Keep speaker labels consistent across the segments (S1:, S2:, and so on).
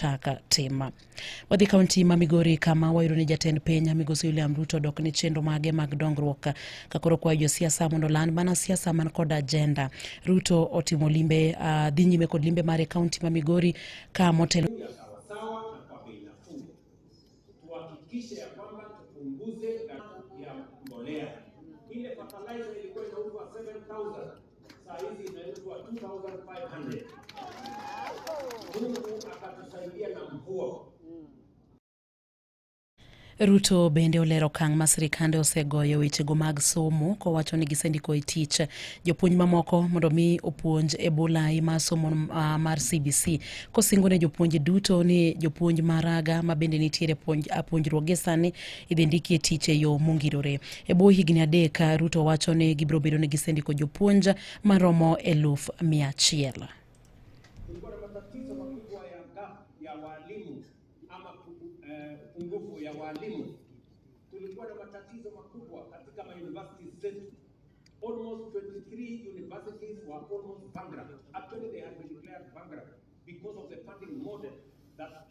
S1: kaka tim. Wadhi kaunti ma Migori kama wayudo ni jatend piny Migosi William Ruto dok ni chenro mage mag dongruok ka koro kwayo josiasa mondo land mana siasa man kod ajenda. Ruto otimo limbe uh, dhi nyime kod limbe mare kaunti ma Migori ka motelo
S2: Saa hizi inaitwa 2500. Mungu akatusaidia na
S1: mvua. Ruto bende olero okang' ma sirikande osegoyo wechego mag somo kowacho ni gisendiko e tich jopuonj mamoko mondo mi opuonj e bulai mar somo uh, mar CBC kosingo ne jopuonj duto ni jopuonj maraga ma bende nitiere puonj, puonjruok gi sani idhi ndikie tich e yo mongirore. E bwo higni adek, Ruto wacho ni gibiro bedo ni gisendiko jopuonj maromo eluf mia achiel.
S2: Almost 23 universities were almost bankrupt. Actually, they had been declared bankrupt because of the funding model that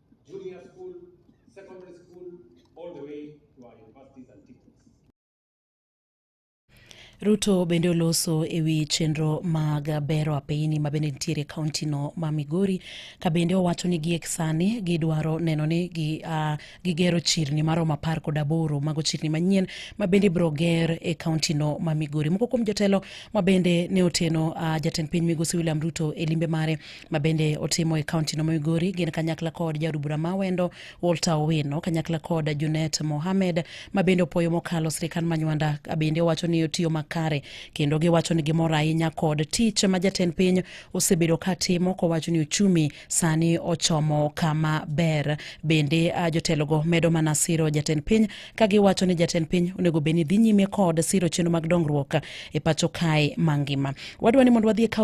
S2: junior school, secondary school, all the way to our universities and
S1: teachers. Ruto bende oloso e wi chenro mag bero apeyini ma bende nitiere kauntino ma Migori ka bende owacho ni giek sani gidwaro neno ni gi, uh, gigero chirni maromo apar kod aboro mago chirni manyien ma bende ibiro ger e kauntino ma Migori. Moko kuom jotelo ma bende ne oteno uh, jatend piny Migosi William Ruto e limbe mare ma bende otimo e kaunti no Migori gin kanyakla kod jaod bura ma wendo Walter Owino kanyakla kod Junet Mohamed ma bende opoyo mokalo sirikal ma Nywanda bende owacho ni otiyo makare kendo giwacho ni gimor ahinya kod tich ma jatend piny osebedo ka timo kowacho ni uchumi sani ochomo kama ber. Bende ah, jotelogo medo mana siro jatend piny ka giwacho ni jatend piny onego bed ni dhi nyime kod siro chenro mag dongruok e pacho kae mangima. Wadwa ni mondo wadhi e kaunti